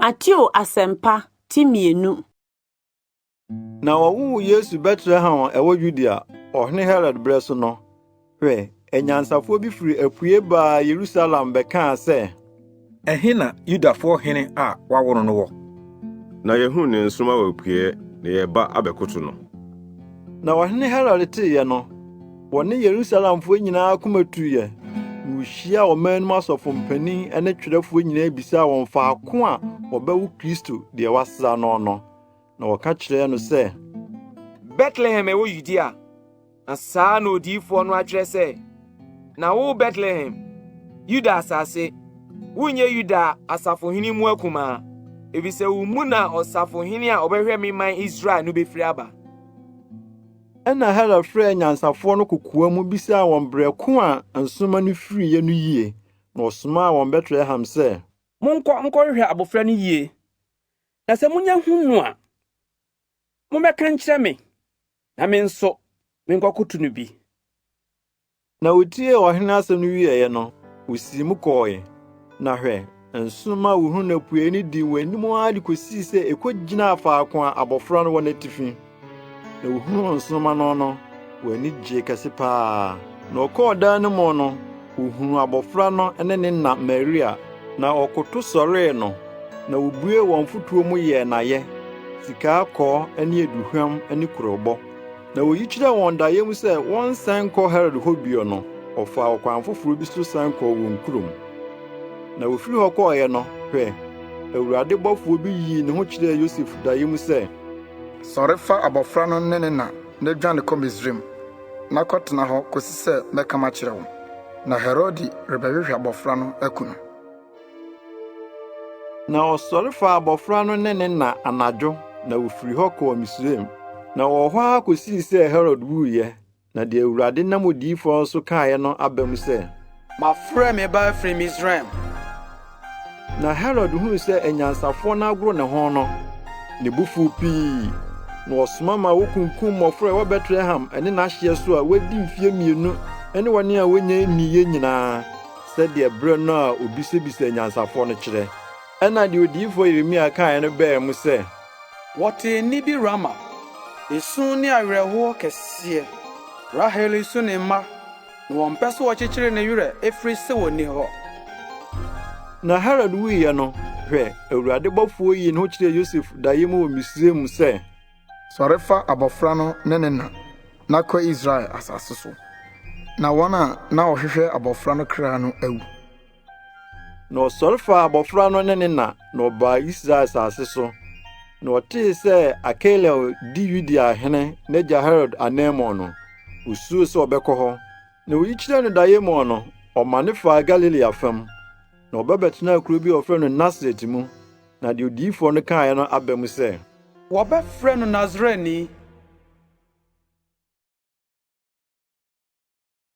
Mateo Asɛmpa ti mmienu. Na wɔwoo Yesu Betlehem a ɛwɔ Yudea, ɔhene Herod berɛ so no. Hwɛ, anyansafoɔ bi firi apue baa Yerusalem bɛkaa sɛ. Ɛhe na Yudafoɔ hene a wɔawo no no wɔ? Na yɛahunu ne nsoromma wɔ apueɛ, na yɛreba abɛkoto no. Na ɔhene Herod teeɛ no. Wɔne Yerusalemfoɔ nyinaa akoma tuiɛ, na wɔhyiaa ɔman no mu asɔfo mpanin ne twerɛfoɔ nyinaa bisaa wɔn faako a wɔbɛwo Kristo deɛ wɔasra no no. Na wɔka kyerɛɛ no sɛ, Betlehem ɛwɔ Yudea. Na saa na odiyifoɔ no atwerɛ sɛ, Na wo Betlehem, Yuda asase, wonyɛ Yuda asafohene mu akumaa, efisɛ wo mu na ɔsafohene a ɔbɛhwɛ me man Israel no bɛfiri aba. Ɛnna Herod frɛɛ anyansafoɔ no kokoam bisaa wɔn berɛ ko a nsoromma no firiiɛ no yie, na ɔsomaa wɔn Betlehem sɛ. Monkɔ nkɔhwehwɛ abɔfra no yie, na sɛ monya hu no a, mommɛka nkyerɛ me, na me nso menkɔkoto no bi. Na wotiee ɔhene asɛm no wieeɛ no, wosiim kɔɔe. Na hwɛ, nsoromma huhuru na puei no dii wɔn anim ara de kosii sɛ ekogyinaa faako a abofra no wɔ n'atifi. Na wohunuu nsoromma no no, wɔn ani gyee kɛse paa. Na wɔkɔɔ dan no mu no, wohunuu abofra no ne ne na Maria, na wɔkoto sɔree no, na wobuee wɔn mfotuo mu yɛɛ no ayɛ, sikaa kɔɔ ne aduhwam ne kurobo. Na oyi kyerɛɛ wɔn daeɛ mu sɛ wɔnsan nkɔ Herod hɔ bio no, ɔfaa ɔkwan foforo bi so san kɔɔ wɔn kurom. Na ofiri hɔ kɔeɛ no, hwɛ, Awurade bɔfoɔ bi yii ne ho kyerɛɛ Yosef daeɛ mu sɛ, Sɔre fa abɔfra no ne ne na na dwane kɔ Misraim, na kɔtena hɔ kɔsi sɛ mɛka makyerɛ wo, na Herode rebɛhwehwɛ abɔfra no aku no. Na ɔsɔre faa abɔfra no ne ne na anadwo na ofiri hɔ kɔɔ Misraim. Na ɔwɔ hɔ ara kosii sɛ Herod wuiɛ, na deɛ Awurade nam odiyifoɔ no so kaeɛ no aba mu sɛ, Mafrɛ me ba afiri Misraim. Na Herod huu sɛ anyansafoɔ no agoro ne ho no, ne bo fuw pii, na ɔsoma ma wokunkum mmɔfra a ɛwɔ Betlehem ne n'ahyeɛ so a wɔadi mfeɛ mmienu ne wɔn a wɔnnya nniiɛ nyinaa. sɛdeɛ berɛ no a ɔbisabisaa anyansafoɔ no kyerɛ. Ɛnna deɛ odiyifoɔ Yeremia kaeɛ no baa mu sɛ. Wɔtee nne bi Rama, esu ne awerɛhoɔ kɛseɛ, Rahel resu ne mma, na wɔmpɛ sɛ wɔkyekyere ne werɛ, ɛfiri sɛ ɔnni hɔ. Na Herod wuiɛ no, hwɛ! Awurade bɔfoɔ yii ne ho kyerɛɛ Yosef daeɛ mu wɔ Misraim sɛ. Sɔre fa abɔfra no ne ne na, na kɔ Israel asase so, na wɔn a na wɔhwehwɛ abɔfra no kra no awu. Na ɔsɔre faa abɔfra no ne ne na, na ɔbaa Israel asase so. Na ɔtee sɛ Akelel di Yudea hene n'agya Herod ananmu no, osuroo sɛ ɔbɛkɔ hɔ. Na oyi kyerɛ no daeɛ mu no, ɔmane faa Galilea fam, na ɔba bɛtenaa kuro bi a wɔfrɛ no Nasaret mu. na deɛ odiyifoɔ no kaeɛ no aba mu sɛ. Wɔbɛfrɛ no Nasareni.